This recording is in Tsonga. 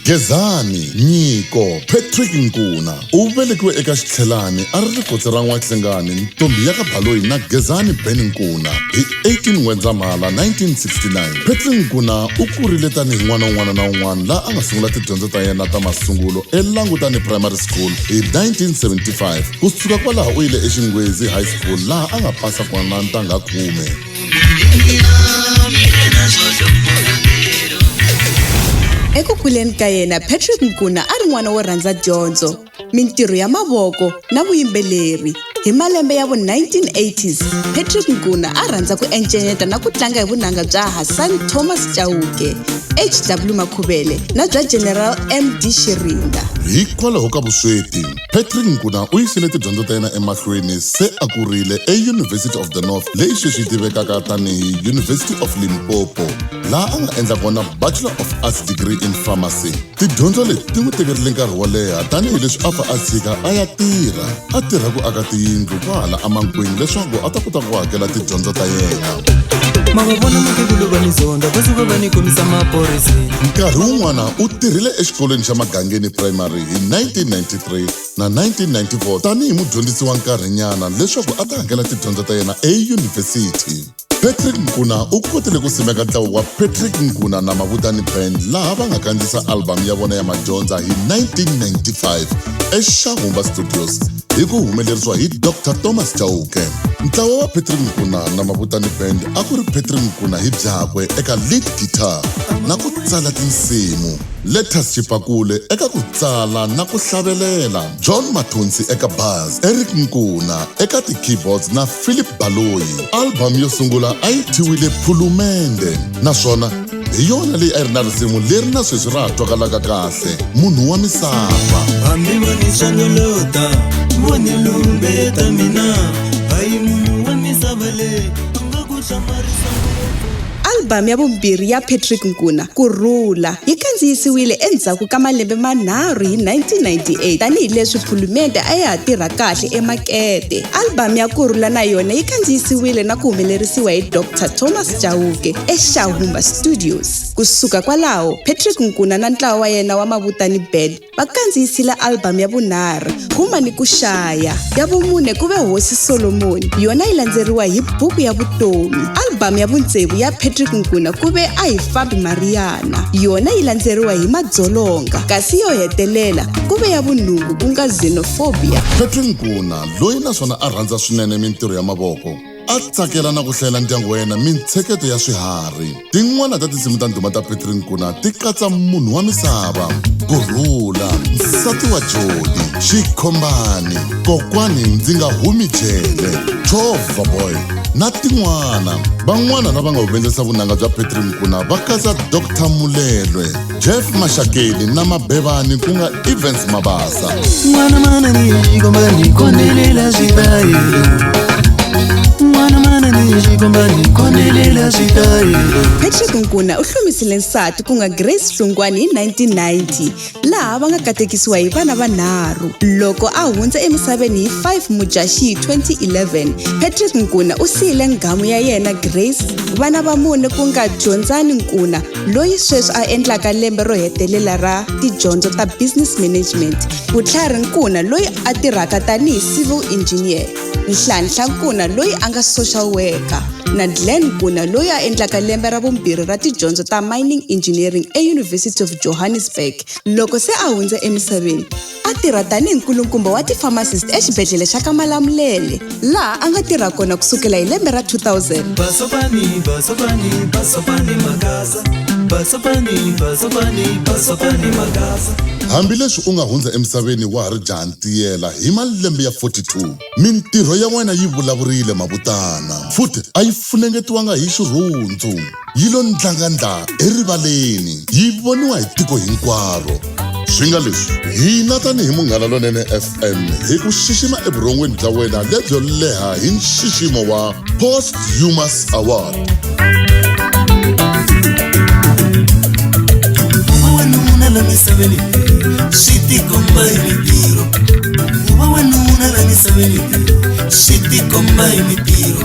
Gezani Nyiko Patrick Nkuna u velekiwe eka Xitlhelani a ri rikotsi ra N'wahlengani ntombi ya ka Baloyi na Gezani Ben Nkuna hi 18 N'wendzamhala 1969. Patrick Nkuna u kurile tanihi n'wana un'wana na un'wana laha a nga sungula tidyondzo ta yena ta masungulo eLangutani Primary School hi 1975. Ku suka kwalaho u yile eXingwezi High School laha a nga pasa kona ntangha khume. eku kuleni ka yena patrick nkuna a ri n'wana wo rhandza dyondzo mintirho ya mavoko na vuyimbeleri hi malembe ya vu-1980s patrick nkuna a rhandza ku encenyeta na ku tlanga hi vunanga bya hassan thomas chauke hw makhuvele na bya general md xirinda hikwalaho ka vusweti Patrick Nkuna u yisile tidyondzo ta yena emahlweni se a kurile eUniversity of the North leyi sweswi yi tivekaka tanihi University of Limpopo laha a nga endla kona Bachelor of Arts degree in Pharmacy. Tidyondzo leti ti n'wi tekerile nkarhi wo leha tanihi leswi a fa a tshika a ya tirha a tirha ku aka tiyindlu kwahala emankwini leswaku a ta kota ku hakela tidyondzo ta yena. mavavona mukhegulu va ni zonda va suka va ni kombisa maphorisa nkarhi wun'wana u tirhile exikolweni xa magangeni primary hi 1993 na 1994 tanihi mudyondzisi wa nkarhinyana leswaku a ta hakela tidyondzo ta yena eyunivhesiti. Patrick Nkuna u kotile ku simeka ntlawa wa Patrick Nkuna na Mavutani Band laha va nga kandziyisa album ya vona ya madyondza hi 1995 eXahumba Studios hi ku humelerisiwa hi Dr Thomas Chauke. Ntlawa wa Patrick Nkuna na Mavutani Band a ku ri Patrick Nkuna hi byakwe eka lead guitar na ku tsala tinsimu. Lettuce Chipakule eka ku tsala na ku hlavelela, John Mathonsi eka bass, Eric Nkuna eka ti-keyboards na Phillip Baloyi. Album yo sungula a yi thyiwile Phulumende naswona hi yona leyi a yi ri na risimu leri na sweswi ra ha twakalaka kahle, Munhu wa misava. hambi vo ni chanelota vo ni lumbeta mina hayi munhu wa misava leyi a nga ku hlamarisa ngopfu Album ya vumbirhi ya Patrick Nkuna, Ku Rhula, yi kandziyisiwile endzhaku ka malembe manharhu hi 1998 tanihi leswi Phulumende a ya ha tirha kahle emakete. Album ya Ku Rhula na yona yi kandziyisiwile na ku humelerisiwa hi Dr Thomas Chauke eXahumba Studios. Ku suka kwalaho, Patrick Nkuna na ntlawa wa yena wa Mavutani Band va kandziyisile albhamu ya vunharhu Huma ni ku Xaya, ya vumune ku ve Hosi Solomoni, yona yi landzeriwa hi Buku ya Vutomi. Albhamu ya vuntsevu ya Patrick Nkuna ku ve A Hi Fambi Mariyana, yona yi landzeriwa hi Madzolonga, kasi yo hetelela ku ve ya vunhungu ku nga Xenophobia. Patrick Nkuna, loyi naswona a rhandza swinene mintirho ya mavoko, a tsakela na ku hlayela ndyangu wa yena mintsheketo ya swiharhi tin'wana ta tinsimu ta ndhuma ta petri nkuna ti katsa munhu wa misava ku rhula nsati wa joni xikhombani kokwani ndzi nga humi jele chova boy na tin'wana van'wana lava nga humelerisa vunanga bya petri nkuna va katsa dr mulelwe jeff maxakeni na mabevani ku nga evens mabasa n'wana mananixikombani kondelela switayelo n'wana mananixikombani kondelela switayelo patrick nkuna u hlomisile nsati ku nga grace hlungwani hi 1990 laha va nga katekisiwa hi vana vanharhu loko a hundza emisaveni hi 5 mudyaxihi 2011 patrick nkuna u siyile nghamu ya yena grace vana va mune ku nga dyondzani nkuna loyi sweswi a endlaka lembe ro hetelela ra tidyondzo ta business management vutlhari nkuna loyi a tirhaka tanihi civil engineer nhlanhla nkuna loyi a nga social worker na glen nkuna loyi a endlaka lembe ra vumbirhi ra tidyondzo ta mining engineering eyunivhesity of johannesburg loko se a hundze emisaveni a tirha tanihi nkulukumba wa ti-pharmacist exibedhlele xa ka malamulele laha a nga tirha kona ku sukela hi lembe ra 2000 Basopani, Basopani, Basopani Magasa. Basopani, Basopani, Basopani Magasa. hambileswi u nga hundza emisaveni wa ha ri jaha ntiyela hi malembe ya 42 mintirho ya wena yi vulavurile mavutana futhi a yi funengetiwanga hi xirhundzu yi lo ndlangandla erivaleni yi voniwa hi tiko hinkwaro swi nga leswi hina tanihi munghana lonene fm hi ku xixima evurhongweni bya wena lebyo leha hi nxiximo wa post humas award wanuna la misaveni swi tikomba hi mintirho ku va wanuna la misaveni swi tikomba hi mintirho